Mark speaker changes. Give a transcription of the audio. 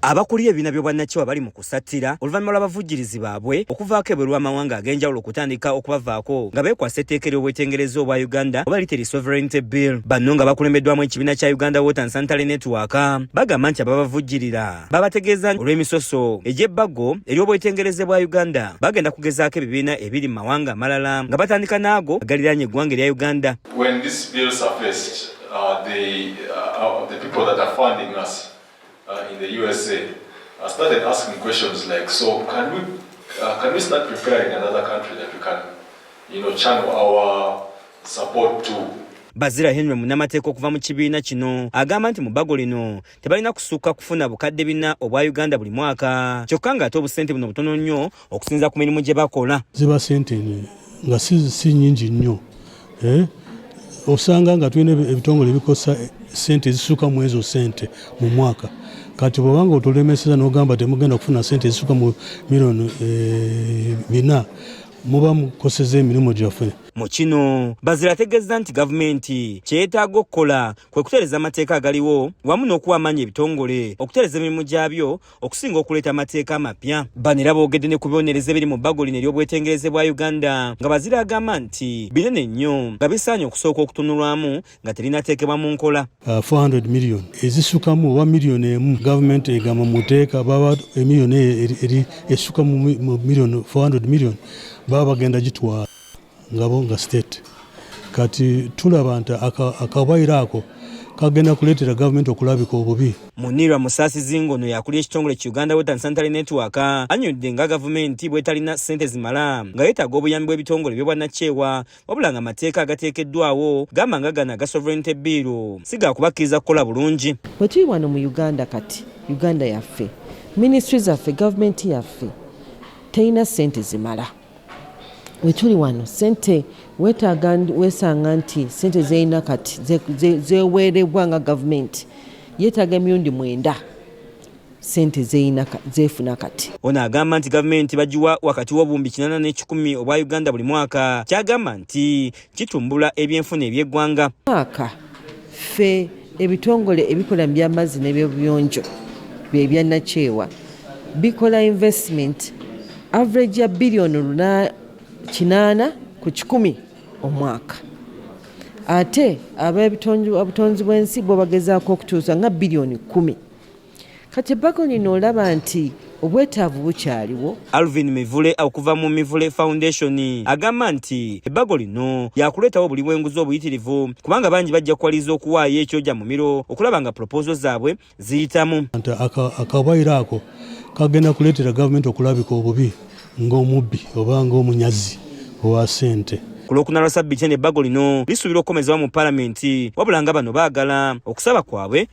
Speaker 1: Abakulira ebibiina by'obwannakyewa bali mu kusattira oluvannyuma lw'abavujjirizi baabwe okuvaako ebweru w'amawanga ag'enjawulo okutandika okubavaako nga beekwasa etteeka ery'obwetengereza obwa Uganda oba lite li Sovereignty Bill. Banno nga bakulembeddwamu ekibiina kya Uganda Water and Sanitary Network bagamba nti ababavujjirira babategeeza olw'emisoso egy'ebbago ery'obwetengereze bwa Uganda bagenda kugezaako ebibiina ebiri mu mawanga amalala nga batandika n'ago agaliraanye eggwanga erya Uganda. When this bill
Speaker 2: surfaced, uh, they, uh, uh the people that are funding us Uh, in the USA, I started asking questions like, so can we, uh, can we start preparing another country that we can, you know, channel our support to? Bazira Henry
Speaker 1: munamateeka okuva mu kibiina kino agamba nti mu bbago lino tebalina kusukka kufuna bukadde bina obwa Uganda buli mwaka kyokka ng'ate obusente buno butono nnyo okusinza ku mirimu gye bakola ziba sente
Speaker 3: nga si nyingi nnyo eh? osanga nga tulina ebitongole ebikosa sente ezisuka mu ezo sente mu mwaka kati bwobanga otulemeseza nogamba temugenda kufuna sente ezisuka mu milioni eh, bina muba mukoseza emirimu gyaffe mu kino
Speaker 1: bazira ategeeza nti gavumenti kyeyetaaga okukola kwe kutereeza amateeka agaliwo wamu n'okuwa amaanyi ebitongole okutereeza emirimu gyabyo okusinga okuleeta amateeka amapya bano era boogedde ne ku bibonerezo ebiri mu bbago lino ery'obwetengereze bwa uganda nga bazira agamba nti binene nnyo nga bisaanye okusooka okutunulwamu nga terinateekebwa mu nkola 400 uh, million
Speaker 3: ezisukamu oba miliyoni emu gavumenti egamba muteeka baba emiliyoni eri esuka mu miliyoni 400 million baba bagenda gitwala ngabo nga state kati tulaba nti akabaire ako kagenda kuleetera gavumenti okulabika obubi munirwa musaasizi
Speaker 1: ng'ono yakulira ekitongole ki uganda water and sanitary network anyonidde nga gavumenti bwetalina ssente zimala nga yeetaaga obuyambi bw'ebitongole by'obwannakyewa wabula nga amateeka agateekeddwawo gamba nga gana aga sovereignty biiru si gaakubakkiriza kukola bulungi bwe tuli wano mu
Speaker 4: uganda kati uganda yaffe minisitry zaffe gavumenti yaffe terina ssente zimala wetuli wano sente wetaaga wesanga nti sente zeyina kati zeweerebwa nga gavumenti yetaaga emirundi mwenda sente zefuna kati ono agamba nti
Speaker 1: gavumenti bagiwa wakati w'obuwumbi kinana n'ekikumi obwa uganda buli mwaka kyagamba nti kitumbula ebyenfuna eby'eggwanga mwaka
Speaker 4: ffe ebitongole ebikola mu by'amazzi n'ebyobuyonjo bye byannakyewa bikola investment average ya biliyoni kinaana ku kikumi omwaka ate ab'obutonzi bw'ensi bo bagezaako okutuusa nga biliyoni kkumi Kati ebbago lino olaba nti obwetaavu bukyaliwo. Alvin Mivule
Speaker 1: okuva mu Mivule Foundation agamba nti ebbago lino lyakuleetawo obuli bw'enguzi obuyitirivu kubanga bangi bajja kuwaliriza okuwaayo ekyoja mumiro okulaba nga pulopoozo zaabwe ziyitamu. Akawaayiro
Speaker 3: ako kagenda kuleetera gavumenti okulabika obubi ng'omubbi oba ng'omunyazi owa ssente. Ku Lwokuna lwa sabbiiti
Speaker 1: eno ebbago lino lisuubirwa okukomezewa mu palamenti wabula nga bano baagala okusaba kwabwe